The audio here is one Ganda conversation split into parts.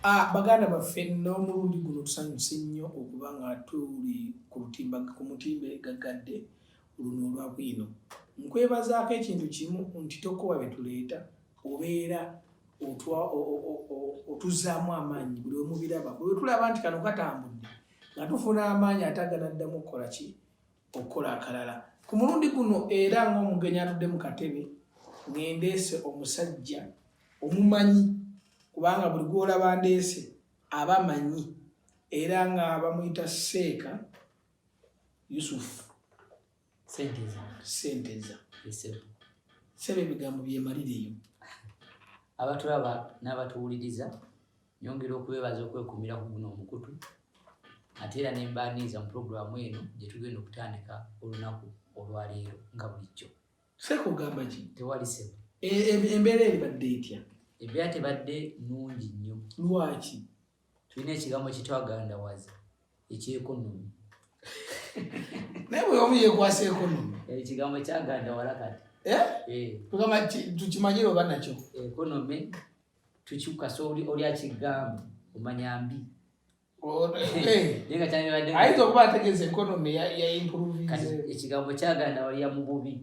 Ah, baganda baffe n'omulundi guno tusanyuse nnyo okuba nga tuli ku lutimba ku mutimbe gaggadde luno olwa bwino nkwebazaako ekintu kimu nti tokowa bye tuleeta obeera otuzaamu amaanyi buli omubiraba bwe tulaba nti kano katambudde nga tufuna amaanyi ate aganaddamu okukola ki okukola akalala ku mulundi guno era ng'omugenyi atudde mu katebe ngendeese omusajja omumanyi kubanga buli gwolaba ndeese aba manyi era nga bamuyita seeka yusufu senteza sebe ebigambo byemalireyo abatulaba n'abatuwuliriza Nyongera okubebaza okwekuumira ku guno omukutu ate era ne mbaaniiza mu pulogulaamu eno gye tugenda okutandika olunaku olwaleero nga bulijjo. Seeka ogamba ki? Tewali sebo. E, e, embeera ebadde etya? Embeera tebadde nnungi nnyo. Lwaki? Tulina ekigambo kye twagandawaza ekyekonomi. Naye bwe omu yeekwasa ekonomi. Eh, ekigambo kyagandawala kati. Eh? Eh. Tukimanyire oba nakyo. Ekonomi. tukyuka so oli oli akigambo omanya mbi ayinza okuba ategeza ekonomi ekigambo kyaganda walya mububi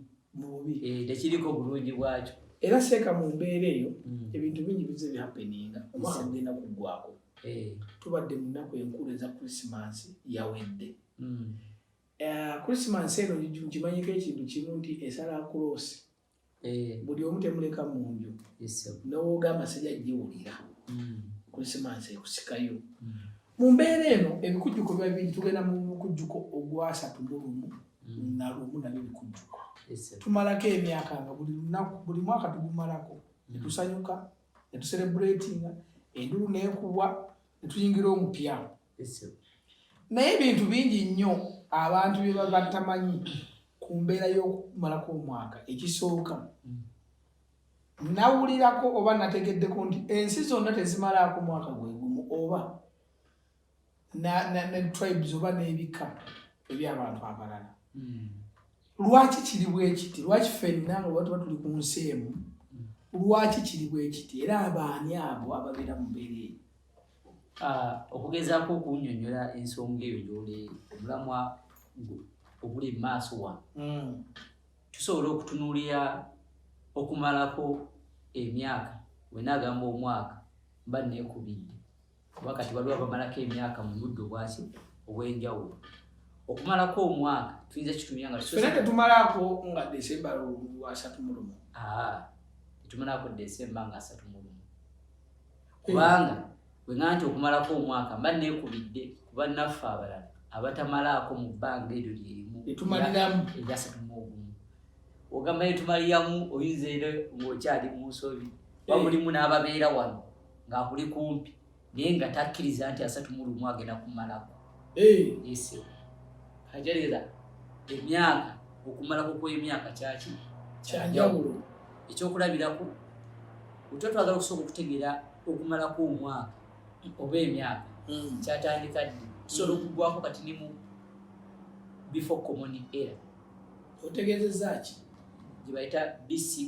eh, tekiriko bulungi bwakyo era seeka mu mbeera eyo mm. ebintu bingi bize byapeninga omwaka gugenda kuggwako eh. tubadde mu nnaku enkulu eza krisimansi yawedde mm. eh, krisimansi eno ngimanyiko ekintu kimu nti esala kuloosi eh. buli omu temuleka munju nowogamba sija jiwulira hmm. kulisimansi ekusikayo hmm. mu mbeera eno ebikujjuko biba biri tugenda mu mukujjuko ogwasatu mulumu hmm. nalumu nabyo bikujjuko tumalako emyaka nga buli lunaku buli mwaka tugumalako netusanyuka netuserebratinga endulu nekubwa netuyingira omupya naye ebintu bingi nnyo abantu bye baba tamanyi ku mbeera y'okumalako omwaka ekisooka nawulirako oba nategeddeko nti ensi zonna tezimalaako mwaka gwegumu oba ne tribes oba n'ebika eby'abantu abalala hmm. lwaki kiri bwekiti lwaki fenna nga oba tuba tuli ku nsi emu hmm. lwaki kiri bwekiti era abaani abo ababeera mu mbeera eyo Ah, okugezaako okunyonyola ensonga eyo gyoli omulamwa oguli mu maaso wano hmm. tusobola okutunuulira okumalako emyaka wenaagamba omwaka mba neekubidde kuba kati waliwo abamalako emyaka mu budde obwaki obw'enjawulo okumalako omwaka tuyinza kitumira nga fena tetumalako nga desemba lwasatu mulumu tetumalako desemba nga asatu mulumu kubanga bwe nga nti okumalako omwaka mba neekubidde kuba naffe abalala abatamalaako mu bbanga eryo lyerimu etumaliramu eryasatu mu ogumu ogamba etumaliramu oyinza era ng'okyali mu nsobi ba eh. mulimu n'ababeera wano ng'akuli kumpi naye nga takkiriza nti asatu mu lumu agenda kumalako ese hajarira emyaka okumalako kwemyaka kyaki kyanjawulo ekyokulabirako otwa twagala okusooka okutegeera okumalako omwaka oba emyaka hmm. kyatandika ddi tusobola hmm. okugwako kati ne mu before common era otegeezeza ki gye bayita bce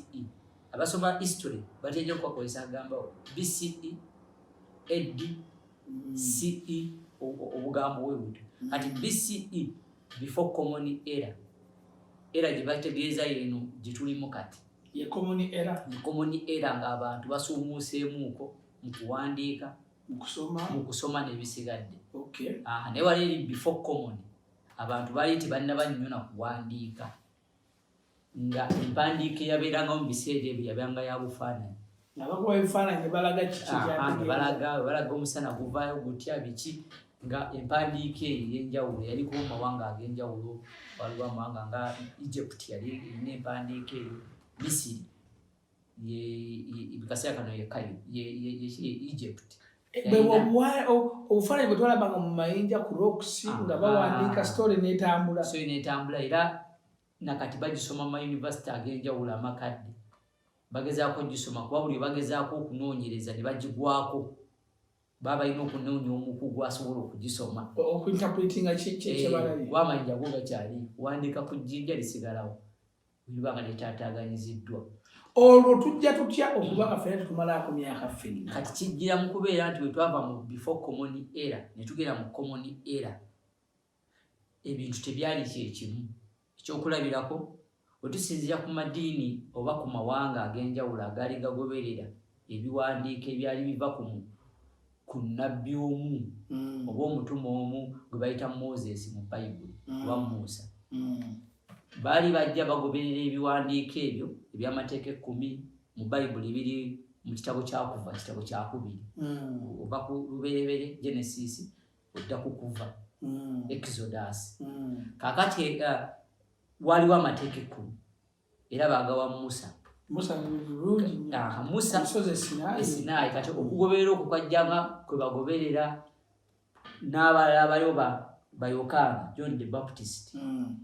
abasoma history bateja okubakozesa agambawo bce ed ce obugambo bwe butyo kati bce before common era era gye bategeeza yeeno gye tulimu kati common era ng'abantu basuumuuseemuuko mu kuwandiika mu kusoma n'ebisigadde naye wali eri before common abantu baali tebanaba nnyo na kuwandiika nga empandiika eyabeerangawo mu biseera ebyo yabanga ya bufaananyi balaga ah, omusana guvaayo gutya biki nga empandiika eyo eyenjawulo yaliko mu mawanga ag'enjawulo waliwo amawanga nga egypt yali erina empandiika eyo misiri kaseera kano yekayo yekiri egypt obufaananyi bwe twalabanga mu mayinja ku rocks ah, nga bawandiika ah. story netambula story netambula era nakati bagisoma mu mayunivasite ag'enjawulo amakadde bagezaako gisoma kuba buli bagezaako okunoonyereza ne bagigwako baba balina okunoonya omukugu asobola okugisoma okuinterpretinga kyebalabye eh, kuba amayinja go gakyali wandiika ku jjinja lisigalawo bwetuba nga tetataganyiziddwa olwo tujja tutya okuba nga fena tetumalaako myaka ffenna kati kijjira mu kubeera nti bwetwava mu before common era netugera mu common era ebintu tebyali kyekimu ekyokulabirako wetusinzira ku madiini oba ku mawanga ag'enjawulo agaali gagoberera ebiwandiiko ebyali biva ku ku nabbi omu mm. oba omutume omu gwe bayita moses mu bayibuli mm. oba muusa mm. baali bajja bagoberera ebiwandiiko ebyo ebyamateeka ekkumi mu bayibuli ebiri mu kitabo kyakuva kitabo kyakubiri ova ku luberebere genesis odda ku kuva exodus kakati eh, waliwo amateeka ekkumi era baagawa musa musa esinaayi kati okugoberera okwo kwajjanga kwe bagoberera n'abalala baliwo bayokaana john the baptist hmm.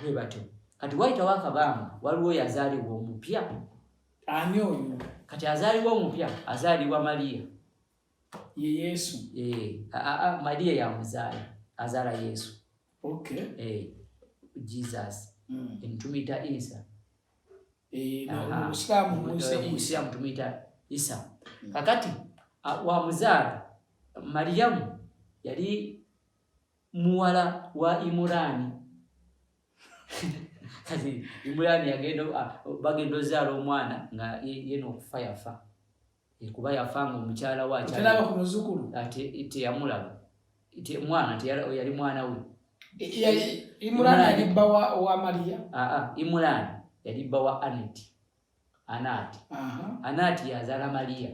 bwe batyo kati wayitawo akabanga waliwo yazaalibwa omupya ani oyo kati azaalibwa omupya azaalibwa mariya ye yesu eh, maria yamuzaala azaala yesu okay. eh, jesus mm. tumuyita isa eh, musiraamu tumuyita isa mm. kakati wamuzaala mariyamu yali muwala wa imurani kati imurani bagenda ozaala omwana nga yena okufa yafa Eh, kuba yafa nga omukyala we akyalaba ku muzukulu ate eh, teyamulaba mwana yali mwana we imulaani yali bba wa mariya imulaani yali bba wa aneti anaati anaati yazaala mariya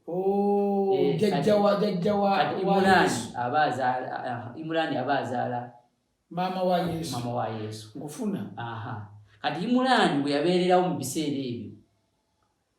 oh, eh, imulaani aba azaala maama wa yesu kati imulaani bwe yabeererawo mu biseera ebyo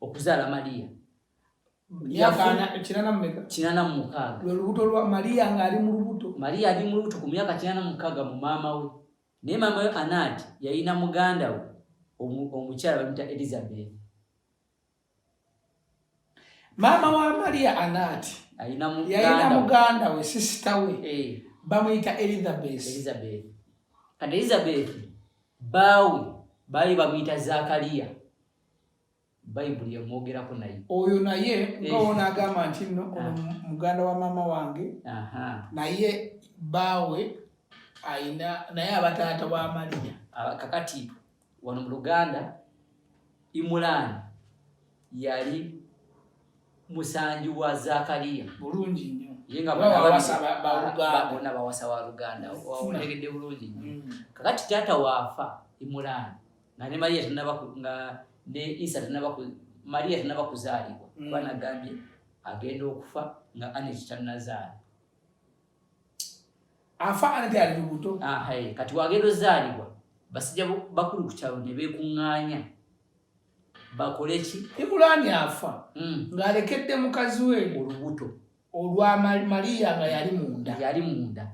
okuzaala Maria kinana mumukaaga lwelubuto lwa Maria ng'ali mu lubuto Maria ali mu lubuto ku myaka kinana mukaaga mu maama we naye maama we Anati yalina muganda we omukyala bamuyita Elizabeth maama wa Maria Anati yalina muganda we sisita we eh. bamuyita Elizabeth Elizabeth kati Elizabeth baawe baali bamuyita Zakaria bayibuli yamwogerako naye oyo naye ngawona eh. agamba nti nno ah. muganda wa maama wange naye baawe ayina naye abataata wa maliya ah, kakati wano mu luganda imulaani yali musanji wa zakariya bulungi nyo ye nga bona bawasa wa luganda otegedde bulungi nyo mm. kakati taata waafa imulaani nga ne maria tenaba nga ne isa tenaba ku maria tenaba kuzaalibwa mm. kuba nagambye agenda okufa nga aneti tannazaala afa aneti ali lubuto ahaye ah, kati wagenda ozaalibwa basijja bakulu ku kyalo ne beekuŋŋaanya bakole ki ibulaani afa mm. ng'alekedde mukazi we olubuto olwa Maria nga yali munda yali munda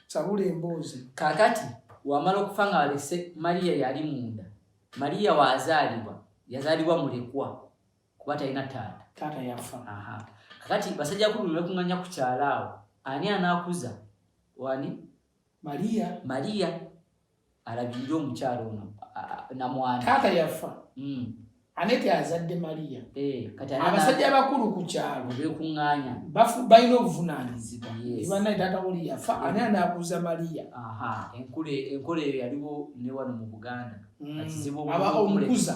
sabula emboozi kakati wamala okufa nga walese Maria yali munda Maria wazalibwa yazalibwa mulekwa kuba talina taata taata yafa aha kakati basajja kulu mekunganya kukyalaawo ani anakuza wani Maria Maria alabirira omukyalo ono namwana taata yafa mm. anete azadde Maria eh, abasajja abakulu ku kyalo bekuŋŋaanya balina obuvunaanyizibwa banaye taata oli yafa ani anaabuuza Maria enkola eyo yaliwo ne wano mu Buganda mm. aba omukuza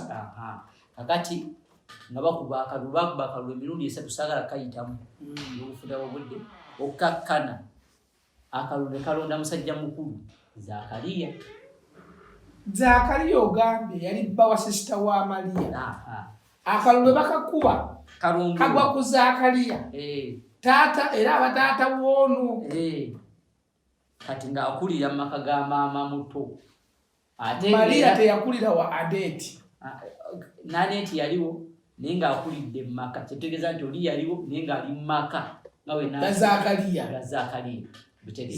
kakati nga bakuba akalulu bakuba akalulu emirundi esatu saagala kayitamu mm. n'obufuda bobudde okkakkana akalulu ne kalonda musajja mukulu zakaliya zakaliya ogambye yali bba wa sisita wa maliya akalulu bakakuba kagwa ku zakaliya eh. taata era abataata woono eh. kati ng'akulira mu maka ga maama muto Maria teyakulira wa Adeeti. Ah, Naneeti yaliwo naye ng'akulidde mu maka kyetegeeza nti oli yaliwo naye ng'ali mu maka nga wenazakaliya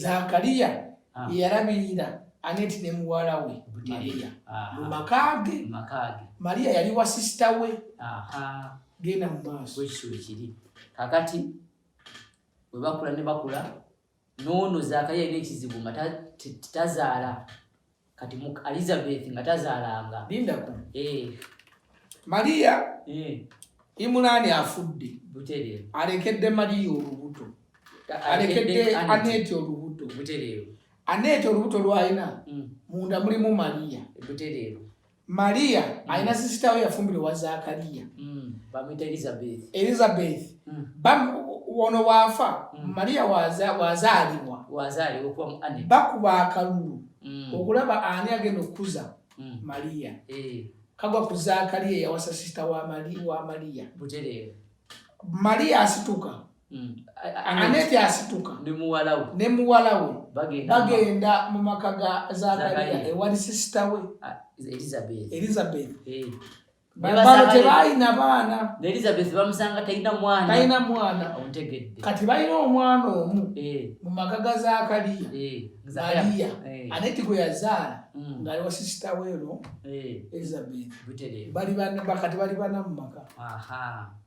zakaliya ah. yeyalabirira aneti ne muwala we maria ah. mu maka ge maria yali wa sisita we genda mu maaso kakati webakula ne bakula noono zakariya alina ekizibu nga tazaala kati mu elizabeth nga tazaalanga lindako eh. mariya eh. imulaani afudde butereero alekedde mariya olubuto alekedde aneeti olubuto butereero aneeti olubuto lwalina hmm. munda mulimu mariya butereero Maria mm. alina sister we yafumbira wa Zakaria. Mm. Bamita Elizabeth. Elizabeth. Mm. Bam wono wafa mm. Maria waza wazalibwa. Wazalibwa kwa muane. Baku ba kalulu. Mm. Okulaba ani agenda okuza mm. Maria. Eh. Kagwa ku Zakaria yawasa sister wa Maria wa Maria. Butere. Maria asituka. Mm. Aneti asituka ne muwala we bagenda mu maka ga Zakariya ewali sisita we Elizabeth. Eh. Bano tebalina baana talina mwana kati balina omwana omu eh. mu maka ga Zakariya eh. Mariya Aneti gwe yazaala mm. ng'ali wa sisita we eno Elizabeth bali bana mu maka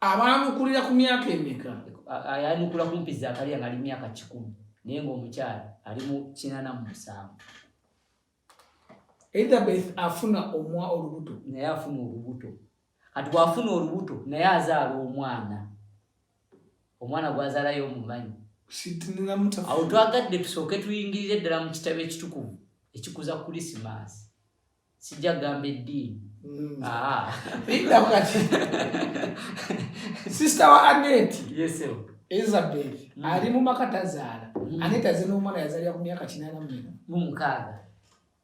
abaanukulira ku myaka emeka ayanukula kumpi zakaliya ngaali myaka kikumi naye ngaomukyala ali mu kinana mu musanvu elizabeth afuna omwa olubuto naye afuna olubuto kati bwafuna olubuto naye azaala omwana omwana gwazaalayo omumanyi awo twagadde tusooke tuyingirire ddala mu kitabo ekitukuvu ekikuza krisimaasi sijja kugamba eddiini mm. ah. linda kati sisita wa aneti isabel mm. ali mu maka tazaala mm. aneti aze n'omwana yazalira ku myaka kinaana mwena mu mukaaga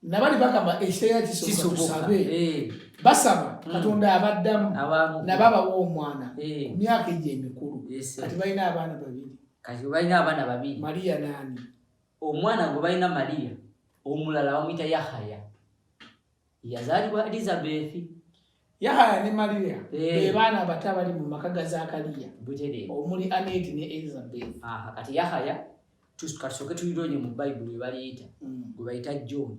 nabali bagamba ekiseera kisobokasabe eh. basaba katonda abaddamu nabo abawa omwana eh. ku myaka egyo emikulu kati balina abaana babiri kati balina abaana babiri mariya naani omwana gwe balina mariya omulala bamuyita yahaya yazaalibwa elizabethi yahaya ne mariya eh. be baana abato abali mu maka ga zakariya omuli aneti ne elizabeth kati yahaya katusooke tuyironye mu bayibuli webaliyita mm. gwe bayita john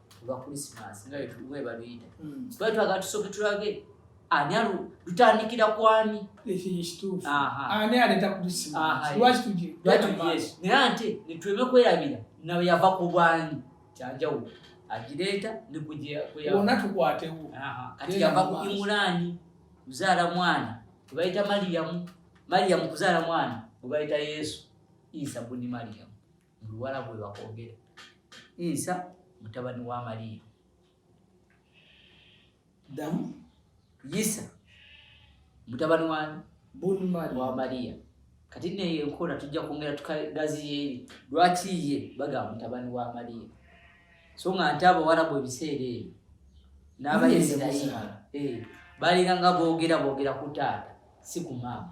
olwa christmas nga webaluyita hmm. twali twagala tusooke tulage ani alu lutandikira kwani ani aleta naye ate netuleme kwerabira nawe yava ku bwani kyanjawulo agireeta nikuona tukwatewo kati yava ku imulaani kuzaala mwana webayita mariyamu mariyamu kuzaala mwana webayita yesu isa buni mariyamu mu luwalabu bwe bakwogera isa mutabani wa mariya damu isa mutabani wa wa mariya kati neyo enkola tujja kwongera tukagaziyeeri lwaki ye bagamba mutabani wa mariya so nga nti abawarabu ebiseera ebyo n'abaisirairi eh, balina nga boogera boogera ku taata si ku maama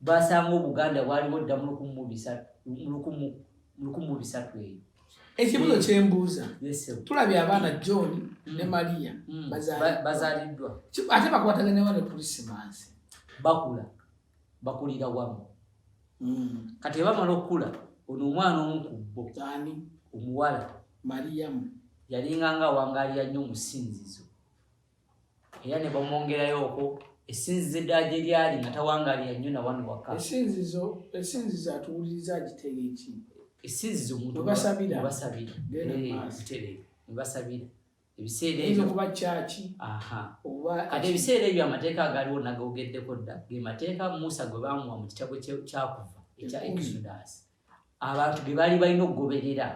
basanga obuganda bwaliwo dda mu lukumu mu bisatu eyo ekibuzo hmm. kyembuuza tulabye abaana john ne hmm. maria hmm. bazaliddwa ate bakwataganawa ne krisimansi bakula bakulira wamu kati bamala okukula ono omwana omu ku bo omuwala mariyamu yalinganga wangaaliya nnyo omusinzizo era ne bamwongerayoko esinzizo eddala gye lyali nga tawangaalira nnyo na wano waka esinzizo esinzizo atuwuliriza agiteera eki esinzizo mutubasabira basabira butereere nebasabira ebiseera ebyo kuba kyaki aha oba kati ebiseera ebyo amateeka agaliwo nagogeddeko dda ge mateeka musa gwe baamuwa mu kitabo kyakuva ekya exodus abantu be baali balina okugoberera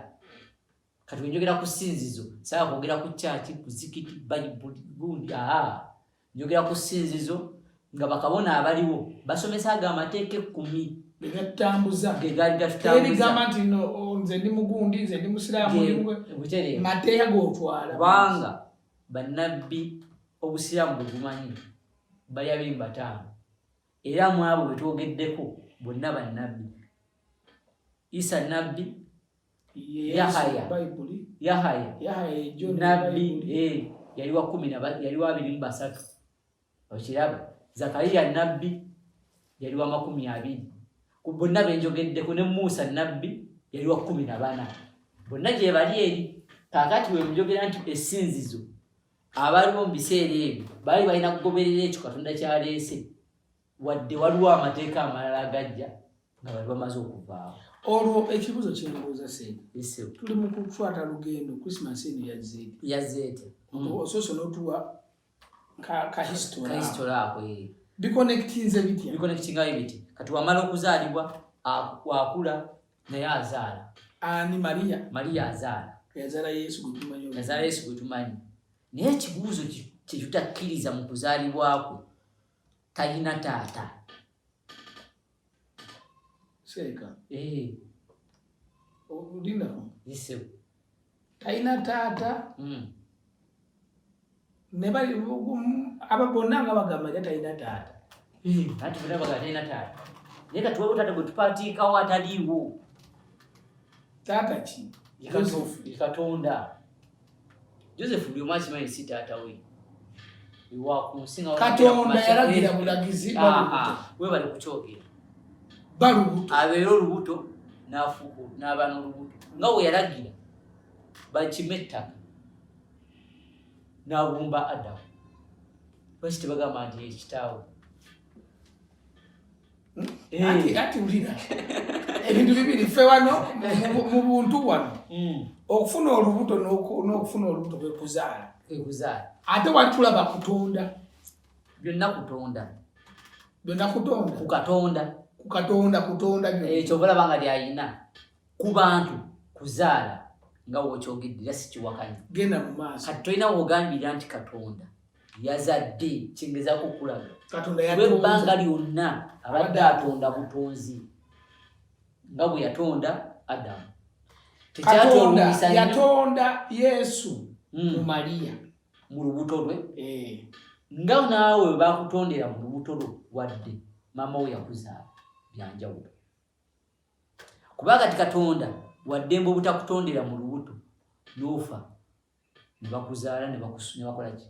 kati wenjogera ku sinzizo saa kwogera ku kyaki kuzikiti bayibuli gundi aa njogera ku sinzizo nga bakabona abaliwo basomesa ago amateeka ekkumi egatambuza gegaali gatambuzaebigamba nti no nze ndi mugundi nze ndi musiraamu mateeka gotwala kubanga bannabbi obusiraamu bwegumanyi bali abiri mubataano era mwabo bwetwogeddeko bonna bannabbi isa nabbi Yahaya Yahaya nabbi eh, yali wa kumi yali wa abiri mu basatu okiraba Zakariya nabbi yali wa makumi abiri ku bonna benjogeddeko ne Musa nabbi yali wa kumi na bana bonna gye bali eri kakati we mujogera nti esinzizo abaliwo mu biseera ebyo baali balina kugoberera ekyo katonda kyaleese wadde waliwo amateeka amalala agajja nga bali bamaze okuvaawo olwo ekibuzo kyebuuza sente tuli mu kukwata lugendo christmas eno yazeete yazeete mm. osoose notuwa ka history ako eh. biconnectinze bitya biconnectingayo biti kati wamala okuzaalibwa wakula naye azaala ani maria maria azaala yazaala yesu gwetumanyi yazaala yesu gwetumanyi naye ekibuuzo kyetutakkiriza mu kuzaalibwakwe talina taata seeka eh. olinako yisebo talina taata hmm. ne bali aba bonna nga bagamba nti talina taata hmm. ati bonna bagamba talina taata naye kati waliwo taata gwe tupatiikawo ataliiwo taata ki katonda Joseph Byuma akimanyi si taata we katonda yalagira bulagizi webali kukyogera balubuto abeera olubuto nafuku n'aba n'olubuto nga we yalagira bakime ettaka n'abumba adamu lwaki tebagamba nti ekitaawe Eh. ati ati ulira ebintu bibiri ffe wano mu buntu wano hmm. okufuna olubuto n'okufuna olubuto kwekuzaala kwekuzaala ate wali tulaba kutonda byonna kutonda byonna kutonda ku katonda ku katonda kutonda ekyo bulaba nga lyayina ku bantu kuzaala nga wokyogedde era sikiwakanya genda mu maaso kati tolina wogambira nti katonda yazadde kingezako okulaga ebbanga lyonna abadde atonda butonzi nga bwe yatonda adamu yatonda yesu hmm. mu mariya mu lubuto lwe eh. nga naawe bakutondera mu lubuto lwo wadde maama wo yakuzaala byanjawulo kuba kati katonda waddembe obutakutondera mu lubuto nofa nebakuzaala nebakolaki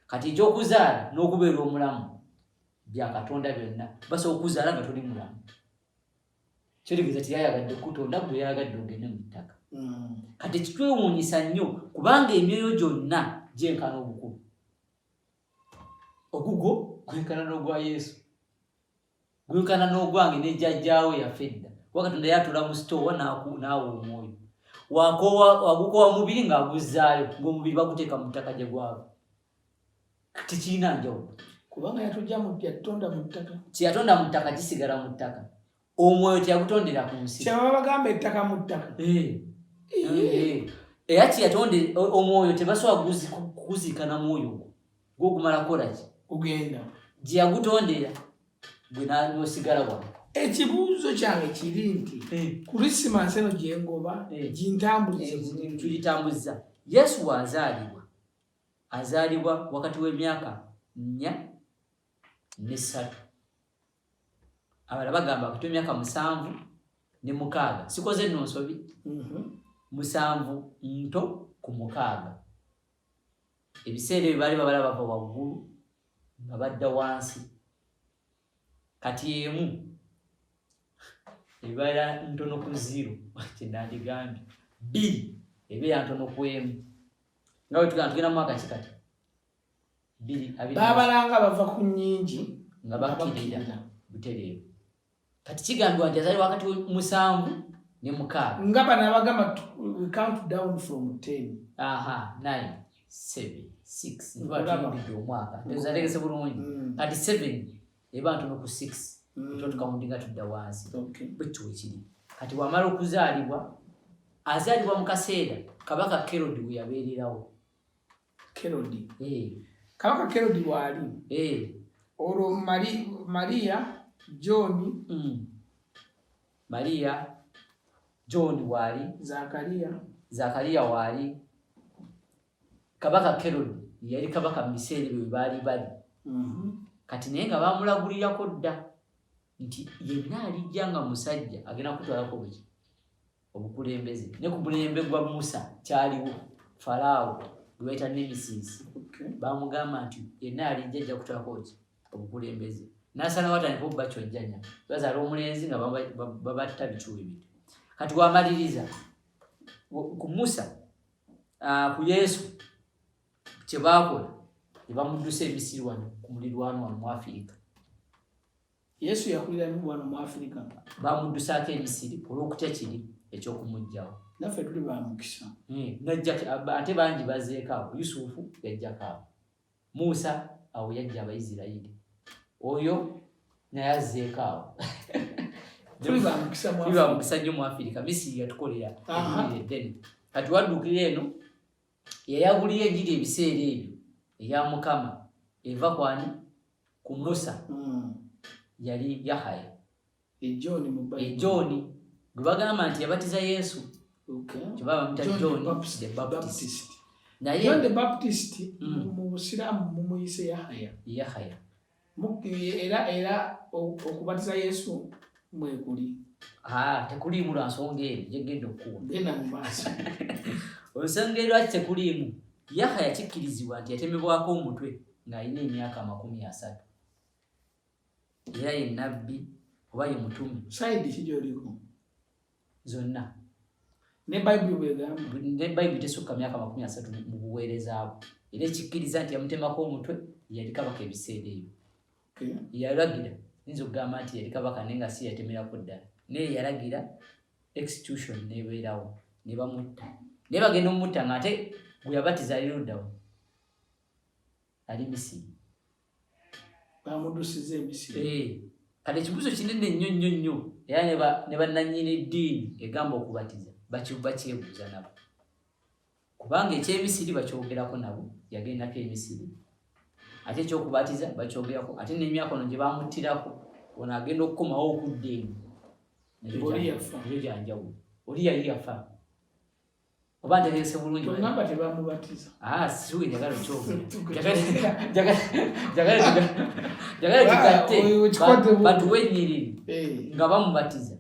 kati ekyokuzaala n'okubeera omulamu byakatonda byonna basobola okuzaala nga toli mulamu kyotegeeza tiyayagadde kutonda gwe yayagadde ogende mu ttaka mm. kati kitwewuunyisa nnyo kubanga emyoyo gyonna gyenkana obukulu ogugwo gwenkana n'ogwa yesu guyukana n'ogwange ne jajjaawo yafa edda kuba katonda yatula mu sitoowa naawa omwoyo wagukowa mubiri ng'aguzzaayo ng'omubiri baguteeka mu ttaka gye gwava tekirina njawulo kubanga yatujja yatonda mu ttaka kyeyatonda mu ttaka kisigala mu ttaka omwoyo teyagutondera ku nsi kyebaba bagamba ettaka mu ttaka eh. Eh. Eh. era kyeyatonde omwoyo tebasobola kuguzikana mwoyo ogwo gwokumala kolaki kugenda gyeyagutondera gwe nosigala wa ekibuuzo kyange kiri nti eh. kurisimansi eno gyengoba eh. gintambulizetulitambuzza eh, yesu waazaalibwa azaalibwa wakati w'emyaka nnya nesatu abala bagamba wakati w'emyaka musanvu ne mukaaga sikoze nno nsobi mhm. musanvu nto ku mukaaga ebiseera ebyo baali babala bava waggulu nga badda wansi kati emu ebeera ntono ku ziro kyenandigambye bbiri ebeera ntono ku emu nga wetugamba tugenda mu mwaka kikati babalanga bava ku nyingi nga bakirira butereevu kati kigambibwa nti azali wakati musanvu ne mukaaga nga bano abagamba we count down from ten aha nine seven six nbatuyingidde omwaka tezategese bulungi mm. kati seven ebantu noku six mm. ekyo tukawundinga tudda wansi bwekyo wekiri kati wamala okuzaalibwa azaalibwa mu kaseera kabaka kerod weyabeererawo Kerodi. Eh. Kabaka Kerodi waali. Eh. Olwo Mari, Maria John. Mm. Maria John waali. Zakaria. Zakaria waali. Kabaka Kerodi yali kabaka mu biseera ebyo baali bali. Mm -hmm. Kati naye nga baamulagulirako dda nti yenna alijja nga musajja agenda kutwalako buki. obukulembeze ne ku mulembe gwa musa kyaliwo falaawo gwe bayita nemesis bamugamba nti yenna alijja ajja kutwako ki obukulembeze nasalawo atandika obubacojjanya bazaala omulenzi nga babatta bikiwa ebintu kati wamaliriza ku musa ku yesu kyebakola nebamuddusa emisiri wano ku mulirwano wano mu afirika Yesu yakulira mu wano mu Afirika. Bamuddusaako e Misiri olw'okutya kiri eky'okumuggyawo. Naffe tuli ba mukisa. Hmm, Najjaki ate bangi bazeeko awo. Yusufu yajjako awo. Musa awo yajja Abaisirairi. Oyo naye azeeko awo. Tuli ba mukisa mu Afirika. Tuli ba mukisa nnyo mu Afirika. Misiri yatukolera. Kati wadduukira eno. yayabulira enjiri ebiseera ebyo eya mukama eva kwani ku musa hmm. yali yahaya ejooni e gwe bagamba nti yabatiza yesu kyebabamuta john the baptist naye the baptist hmm. mu busiraamu mumuyise yahaya yahaya era era okubatiza yesu mwekuli tekuliimu lwa nsonga eri gyegenda okukuunda mu maaso ensonga erwaki tekuliimu yaha yakikkirizibwa nti yatemebwako omutwe ng'alina emyaka amakumi asatu era ye nabbi oba ye mutume saidi ki gyoliko zonna ne bayibuli bwegamba ne bayibuli tesukka myaka makumi asatu mu buweereza bwe era ekikkiriza nti yamutemako omutwe yali kabaka ebiseera ebyo yalagira yinza okugamba nti yali kabaka naye nga si yatemerako ddala naye yalagira execution nebeerawo ne bamutta naye bagenda omumutta nga ate gwe yabatiza ali luddawo ali misiri bamudusiza emisiri eh, kati ekibuzo kinene nnyo nnyo nnyo era ne bannanyini ddiini egamba okubatiza bakyebuuza nabo kubanga ekyemisiri bakyogerako nabo yagendako emisiri ate ekyokubatiza bakyogerako ate nemyaka ono gye bamuttirako ono agenda okukomawo okudda eno ekyo kyanjawulo oli yali yafa oba ntegese bulungi tugamba tebamubatiza ah siwe njagala okyogera njagala tugatte batuwenyirire eh. nga bamubatiza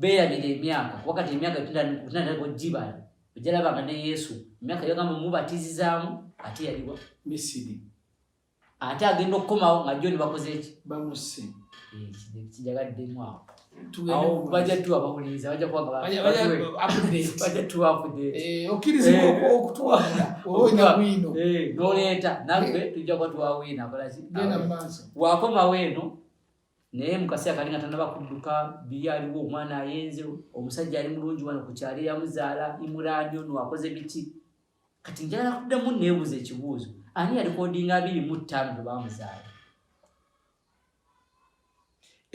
beerabira emyaka wakati emyaka tunatera kugibala ojalabanga ne yesu emyaka yogamba mubatizizaamu ate yaliwa misiri ate agenda okukomawo nga joni bakoze eki bamusse eh, kijagaddemu awo baja tuwa bawuliriza baja kuwagabaja tuwa okukirizaokutuwaoinawino noleeta nagwe tujja kuba tuwawina akolaki wakomawo eno naye mukaseera kali nga tanaba kudduka biri aliwo omwana ayenze omusajja ali mulungi wano ku kyalo eyamuzaala imurani ono akoze biki kati njagala kuddamu neebuuza ekibuuzo ani yalikodinga abiri mu ttaano bwe bamuzaala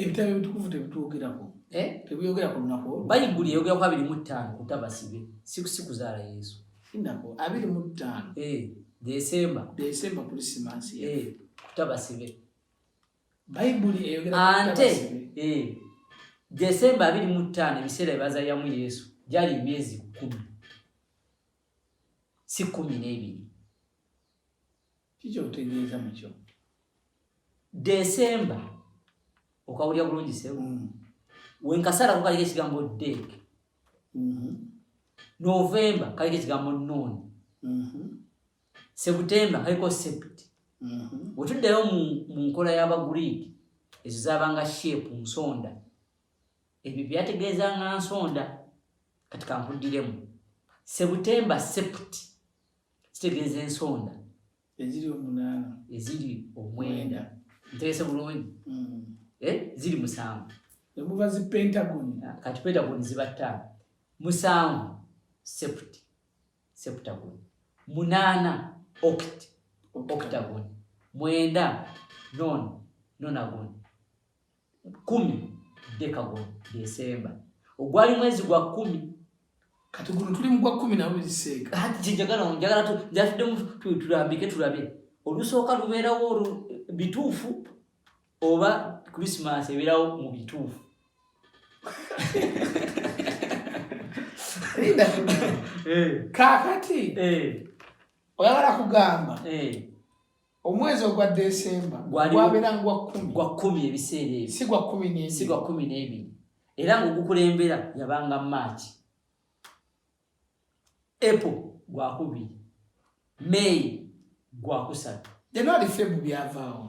ebitabo ebitukuvu tebitwogerako eh? tebiyogera ku lunaku olwo bayibuli eyogera ku abiri mu ttaano kutabasibe si kuzaala yesu inako abiri mu ttaano eh, desemba desemba kulisimansi eh, kutabasibe bayibuli eyogera ante desemba abiri mu ttaano ebiseera ebazayamu yesu gyali emyezi kumi si kumi n'ebiri kikyotegeeza mukyo desemba okawulira bulungi sebu mm. wenkasala kukaliko ekigambo dek mm-hmm. novemba kaliko ekigambo non mm-hmm. sebutemba kaliko sept mm-hmm. wetuddayo mu nkola y'abagriiki ezo zabanga shape nsonda Ebyo byategeeza nga nsonda kati kankuddiremu sebutemba sept kitegeeza ensonda eziri omunaana eziri omwenda ntegese bulungi mm. eh, ziri musanvu nemuva zi pentagon ah, kati pentagon ziba ttaano musanvu sept septagon munaana oct octagon mwenda non nonagon kumi deka gwo desemba ogwali mwezi gwa kumi kati guno tuli mu gwa kumi nawe ziseeka kati kinjagala njagala njatuddemu tulambike tulabe olusooka lubeerawo bituufu oba krisimas ebeerawo mu bituufu eh. kakati eh. oyagala kugamba eh. omwezi ogwa desemba gwabeera gwa kumi ebiseera ebyo si gwa kumi n'ebiri era ngaogukulembera yabanga maaki apple gwakubiri may gwakusatu januari febu byavaawo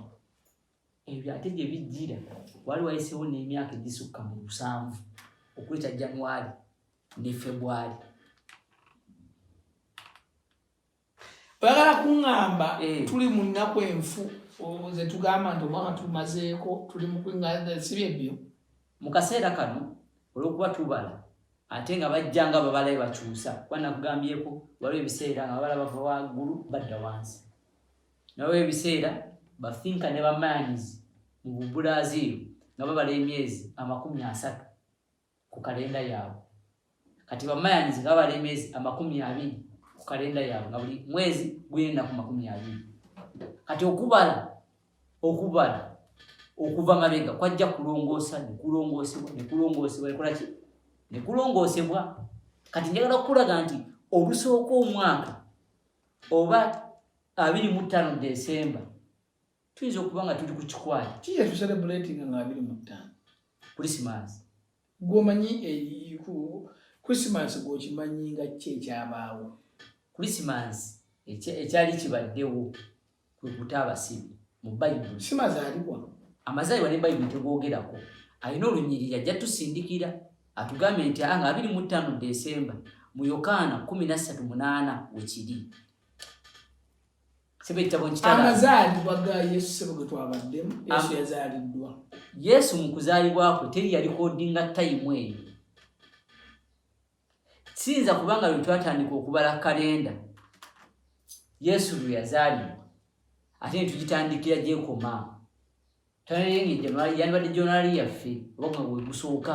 ebyo ate gye bijjira wali wayisewo n'emyaka egisukka mu musanvu okweta januari ne febwari oyagala kuŋŋamba eh. tuli mu nnaku enfu ze tugamba nti omwaka tumazeeko tuli mu kuŋŋamba si bye byo mu kaseera kano olw'okuba tubala ate nga bajja nga babalayo bakyusa kuba nakugambyeko waliwo ebiseera nga babala bava waggulu badda wansi nawe ebiseera bafinka ne bamaanyizi mu bubulaaziiro nga babala emyezi amakumi asatu ku kalenda yaabwe kati bamayanyizi nga bala emyezi amakumi abiri ku kalenda yaabwe nga buli mwezi guyenda ku makumi abiri kati okubala okubala okuva mabega kwajja kulongoosa nekulongoosebwa nekulongoosebwa ekolaki nekulongoosebwa kati njagala okukulaga nti olusooka omwaka oba abiri mu ttaano desemba tuyinza okuba nga tuli ku kikwaya kiye tuserebulatinga nga abiri mu ttaano krisimasi gwomanyi eyiku krisimasi gwokimanyi nga ki ekyabaawo krisimasi ekyali kibaddewo kwe kuta abasibi mu bayibuli si mazaalibwa amazaalibwa ne bayibuli tegwogerako alina olunyiriri ajja tusindikira atugambye nti aa nga abiri mu ttaano desemba mu yokaana kumi na ssatu munaana wekiri amazaalibwa ga yesu sebo ge twabaddemu yesu yazaaliddwa yesu mu kuzaalibwakwe teri yalikodinga tayimu eyo siyinza kubanga lwe twatandika okubala kalenda yesu lwe yazaalibwa ate ne tugitandikira gyekoma tanayenga ejanuari yandibadde jonali yaffe oba gwe gusooka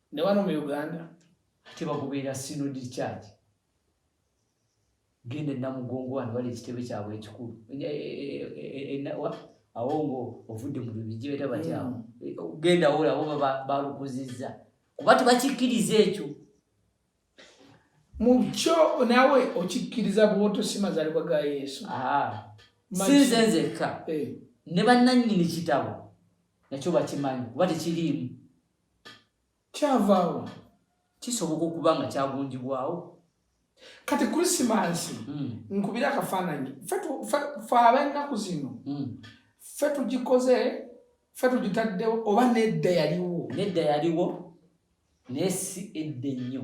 ne wano mu uganda ate bakubeera sinodi kyaki genda enamugongo wano bali ekitebe kyabwe ekikulu e, e, e, awo ngo ovudde mu bibijibeta batyawo mm. genda wola bo balukuzizza kuba tebakikkiriza ekyo mu kyo nawe okikkiriza bwotosima zalibwa ga yesu sinze nzekka eh. ne bannannyini kitabo nakyo bakimanyi kuba tekiriimu kyavaawo kisoboka okuba nga kyagunjibwawo kati krisimansi hmm. nkubira akafaananyi fe abennaku zino hmm. fe tugikoze fe tugitaddewo oba nedda yaliwo nedda yaliwo naye si edda ennyo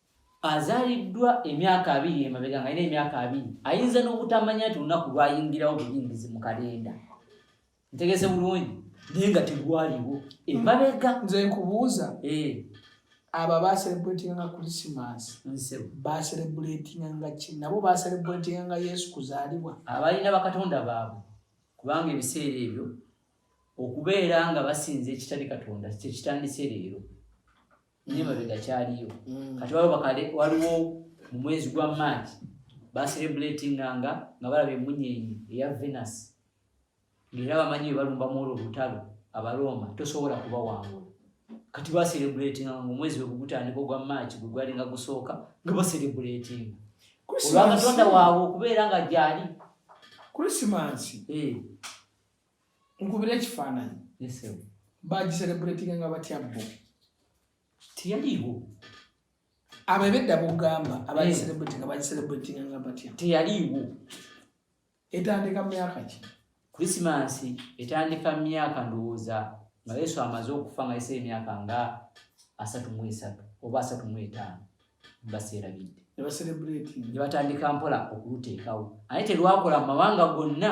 Azaaliddwa emyaka abiri emabega nga alina emyaka abiri ayinza n'obutamanya nti olunaku lwayingirawo buyingizi mu kalenda ntegese bulungi naye nga tegwaliwo emabega nze nkubuuza eh. abo abaserebuletinga nga krisimansi baserebuletinga nga ki nabo baserebuletinga nga yesu kuzaalibwa abalina bakatonda baabwe kubanga ebiseera ebyo okubeera nga basinza ekitali katonda kyekitandise leero naye mabega kyaliyo mm. kati waliwo bakale waliwo mu mwezi gwa march baserebulatinga nga nga balaba emunyenyi eya venus ngaera bamanyi bebalumba mwolwo olutalo abaroma tosobola kubawangula kati baserebulatinga nga omwezi wegugutandika ogwa march gwe gwali nga gusooka nga baserebulatinga olwakatonda waabwe okubeera nga gyali krisimansi eh. nkubira ekifaananyi bagiserebuletinga nga batya bo teyaliiwo abo ebedda bogamba abagiserebuletinga eh. bagiserebuletinga nga batya teyaliiwo etandika myaka ki krisimansi etandika myaka ndowooza nga yesu amaze okufa nga yese emyaka nga asatu mu esatu oba asatu mu etaano baseerabidde nebaserebuletinga ne batandika mpola okuluteekawo ate terwakola mu mawanga gonna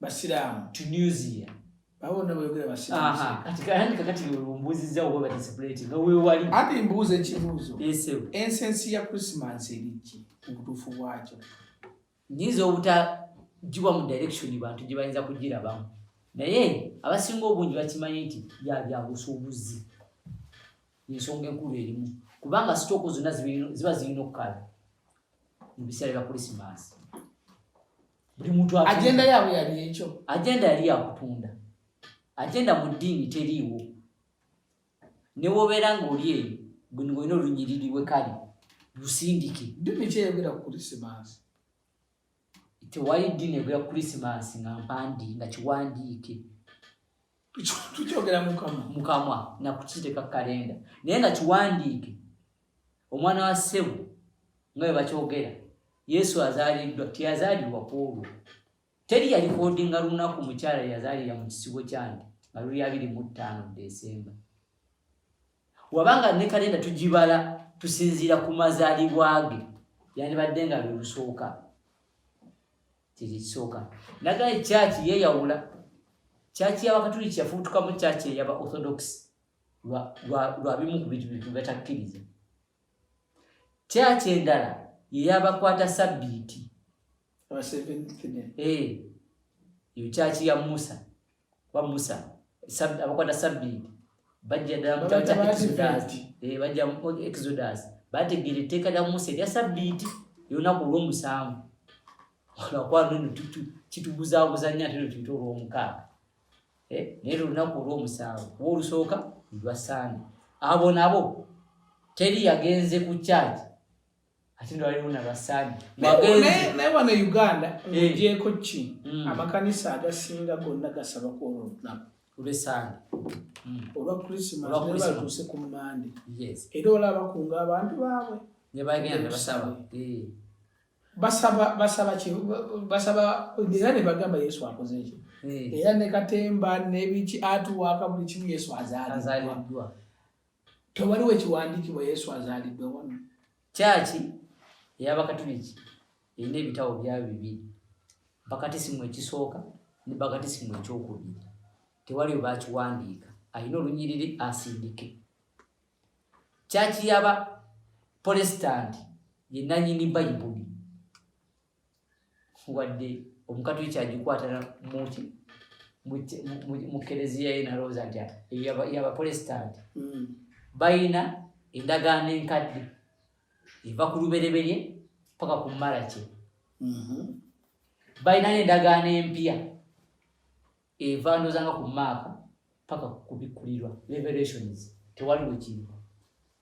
basiraamu tunisia babona boyogera basiraamuwewali ati mbuuza ekibuuzo ensensi ya christmas eriki mubutuufu bwakyo nyinza obutagibwa mu direction bantu gye bayinza kugirabamu naye abasinga obungi bakimanyi nti byabyabusuubuzi ensonga enkulu erimu kubanga sitooko zonna ziba zirina okukala mu biseera bya krisimansi buli muntu agenda yaabwe yali ekyo agenda yali yakutunda agenda mu ddiini teriiwo newobeera ngaoli eyo buni olina olunyiriri we kale lusindike ddiini kyeyogera ku krisimansi tewali ddiini egera ku krisimansi nga mpandi nga kiwandiike tukyogera mukamwa nakukiteeka kalenda naye nga kiwandiike omwana wa ssebo nga webakyogera yesu azaliddwa teyazalibwa kwolwo teri yalikodinga lunaku mukyala yazalira mu kisibo kyange nga luli abiri mu ttaano desemba wabanga ne kalenda tugibala tusinziira ku mazalibwa ge yandibadde nga lwelusooka kyekyo kisooka naga ekyaki yeyawula kyaki yabakatuliki yafuutukamu kyaki eyaba orthodox lwa bimu ku bintu bintu batakkiriza kyaki endala yeyabakwata sabbiiti eyo eh, kyaki ya musa kuba musa abakwata sabbiiti bajja ddala mu kitabo kya exodus eh, bajja mu exodus bategeera etteeka lya musa erya sabbiiti erunaku olwomusanvu olwakwalno kitubuzaabuza nnyo ate notuyita olwomukaaga eh, naye lolunaku olwomusanvu kuba olusooka lwa sande abo nabo teri yagenze ku kyaki ate ndwalimu nabasaani naye wano e uganda ogyeko eh. ki mm. amakanisa agasinga gonna gasaba kwolwo olunaku olwesande mm. olwa krisimasbatuuse ku mande era olaba kunga abantu baabwe eh. basaba era nebagamba yesu akoze ekyo eh. era nekatemba nebiki atuwaka buli kimu yesu azaliddwa Tewali we kiwandiikibwa Yesu azaaliddwa wano. Kyaki ey'Abakatuliki erina ebitabo byayo bibiri, bakatisimu ekisooka ne bakatisimu ekyokubiri. Tewali we bakiwandiika. Alina olunyiriri asindike. Kyaki y'aba Polesitanti ye nannyini Bayibuli. wadde omukatuliki agikwatana muki mu kereziya ye nalowooza nti yabapolesitanti hmm. balina endagaano enkadde eva ku lubereberye paka ku malaki hmm. balina n'endagaano empya eva ndozanga ku maaka paka ku bikkulirwa revelations tewali wekiri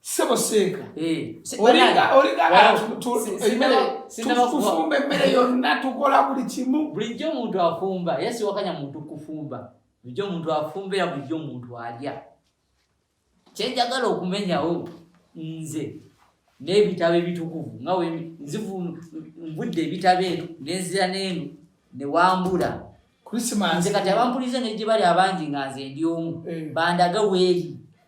Sebo senka. Eh. Olinga olinga tufumba emmere yonna tukola buli kimu. Bulijjo omuntu afumba era siwakanya muntu kufumba. Bulijjo omuntu afumba era bulijjo omuntu alya. Kye njagala okumenyawo nze n'ebitabo ebitukuvu nga nzivu nvudde ebitabo eno nenzira n'eno ne wambula. Nze kati abampulize ne gye bali abangi nga nze ndi omu eh. bandaga weeri.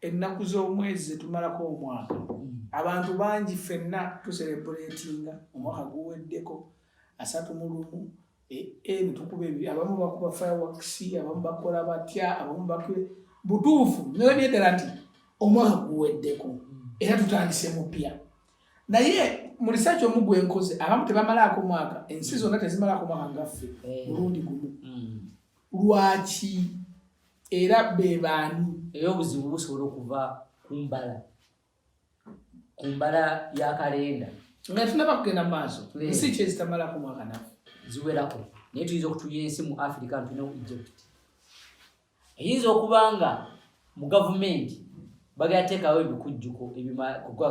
Ennaku z'omwezi zetumalako omwaka mm. abantu bangi ffenna tuserebuleetinga omwaka guweddeko asatu mu lumu netukuba e, e, abamu bakuba firewakisi abamu bakola batya abamu bakuba butuufu nolabye ddala nti omwaka guweddeko mm. era tutandise mupya naye mu risaaki omu gwenkoze abamu tebamalaako mwaka ensi zonna tezimalaako mwaka ngaffe eh. mulundi gumu mm. lwaki era be baani? Era obuzibu busobola okuva ku mbala ku mbala ya kalenda nga tunaba kugenda mu maaso nsi ki ezitamalako mwaka nafe ziwerako naye tuyinza okutuya ensi mu africa ntulina ku egypt eyinza okuba nga mu gavumenti bagenda teekawo ebikujjuko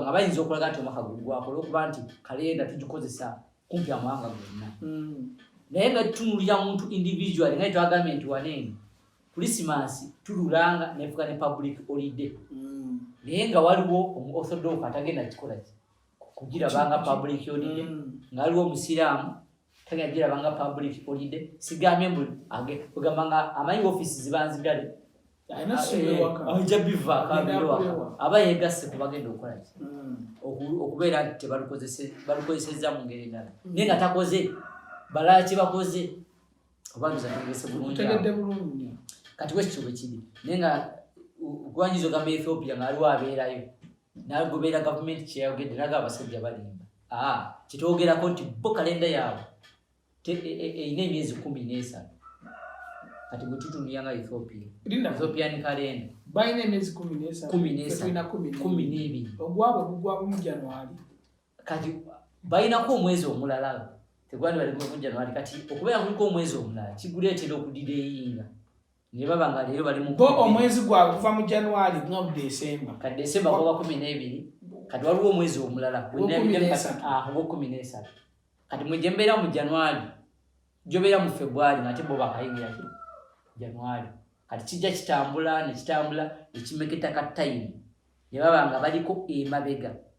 nga bayinza okulaga nti omwaka gugwako olwokuba nti kalenda tugikozesa kumpi amawanga gonna mm. naye nga tutunulira muntu individual naye twagambye nti waneeno kulisimansi tululanga nefuka ne public olide mm. naye nga waliwo omu orthodox atagenda kikola ki kugirabanga public olide mm. nga waliwo omusiraamu tagenda girabanga public olide sigambye mbu ogamba nga amanyi ofisi zibanzigale ojja bivaako abirowa aba yegasse ku bagenda okukola ki hmm. okubeera nti tebalukozesezza mu ngeri endala hmm. naye nga takoze balala kyebakoze obabizategese bulungi kati wekityo bwekiri naye nga ogwanyiza ogamba ethiopia ngaaliwo abeerayo nagobeera gavumenti kyeyayogedde naga abasajja balimba ah, kyetwogerako nti bo kalenda yaabwe erina emyezi kumi n'esatu kati bwe tutunulira nga ethiopia ethiopian kalenda balina emyezi kumi n'esatukumi n'ebiri ogwabwe gugwabumu januari kati balinako omwezi omulala tegwali baligumu januari kati okubeera kuliko omwezi omulala kiguleetera okudira eyinga ne baba nga leero bali mu bo omwezi gwabwe kuva mu january nga mu desemba ka desemba gwaba kumi n'ebiri kati waliwo omwezi omulala ah, ogwokumi n'esatu kati mwe gyembeera mu january gyobeera mu february ngate bo bakayingira ki january kati kijja kitambula nekitambula ekimeketa ka time ne baba nga baliko emabega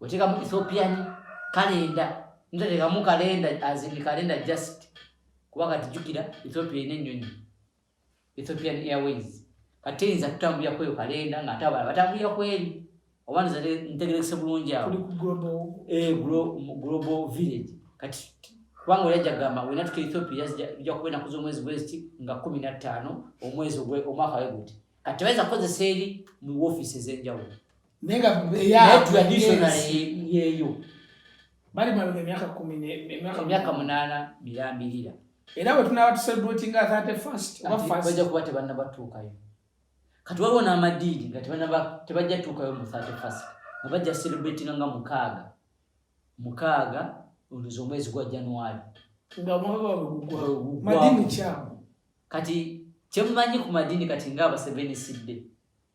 otekamu ethiopian kalenda nzotekamu kalenda azini kalenda just kuba kati jukira ethiopia ina enyonyi ethiopian airways kati eyinza kutambulira kweyo kalenda nga ate abala batambulira kweri oba ntegerekese bulungi awo eh, global village kati kubanga oyaja gamba wenatuka ethiopia ija kuba enaku zomwezi gweziti nga kumi nattaano omwezi omwaka weguti kati tebayinza kukozesa eri mu wofiisi ezenjawulo naye nga yeeyo bali mabega emyaka kumi emyaka munaana mirambirira era bwe tunaaba tusebratinga thirty first oba first bajja kuba tebannabatuukayo kati waliwo n'amadiidi nga tebajja tuukayo mu thirty first nga bajja celebratinga nga mukaaga mukaaga oluzi omwezi gwa january nga omwaka wabwe kati kyemumanyi ku madiini kati nga abasevensidde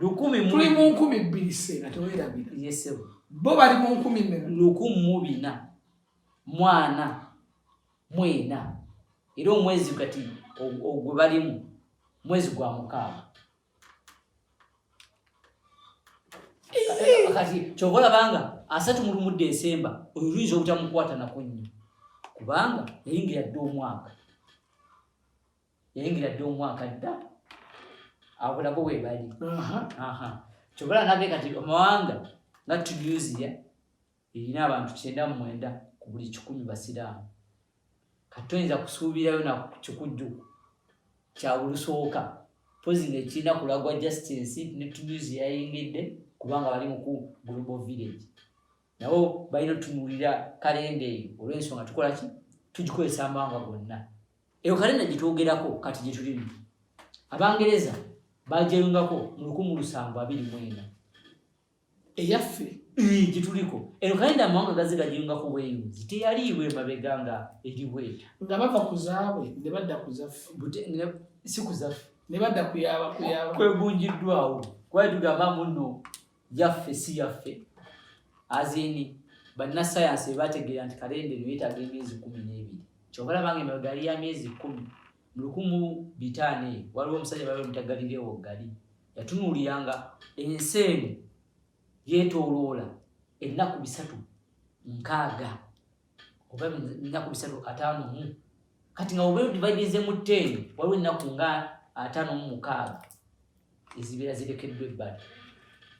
lukumi tuli mu nkumi bbiri seena tewerabira yesebo bo bali mu nkumi mmeka lukumu mu bina mwana mwena era omwezi kati ogwe balimu mwezi gwa mukaaga kati kyova olabanga asatu mulumudde esemba oyo luyinza obutamukwata nako nnyo kubanga yayingira dde omwaka yayingira dde omwaka dda abo nabo webali kyobala nage kati omawanga nga tunisia erina abantu kyenda mu mwenda ku buli kikumi basiraamu kati toyinza kusuubirayo na kikujju kya bulusooka pozi nga ekirina kulagwa just ensi ne tuduzi yayingidde kubanga bali muku global village nabo balina otunuulira kalenda eyo olw'ensonga tukola ki tugikozesa amawanga gonna eyo kalenda gye twogerako kati gye tulimu abangereza bagyeyungako mu lukumu lusanvu abiri mwenda eyaffe gyetuliko eno kayenda amawanga gaze gajinga ku bweyunzi teyaliibwa emabega nga eri bweta nga bava ku zaabwe ne badda ku zaffe si ku zaffe ne badda kuyaba kuyaba kwegunjiddwawo kuba tugamba muno yaffe si yaffe azini bannasayansi bebategeera nti kalenda eno yetaaga emyezi kumi n'ebiri kyobalabanga emabega yali ya myezi kumi Mu lukumu bitaano eyo waliwo omusajja bali bamuta Galileewo Gali, yatunuuliranga ensi eno yeetooloola ennaku bisatu nkaaga oba ennaku bisatu ataano mu kati nga obeera odivaidize mu teeni waliwo ennaku nga ataano mu mukaaga ezibeera zirekeddwa ebbali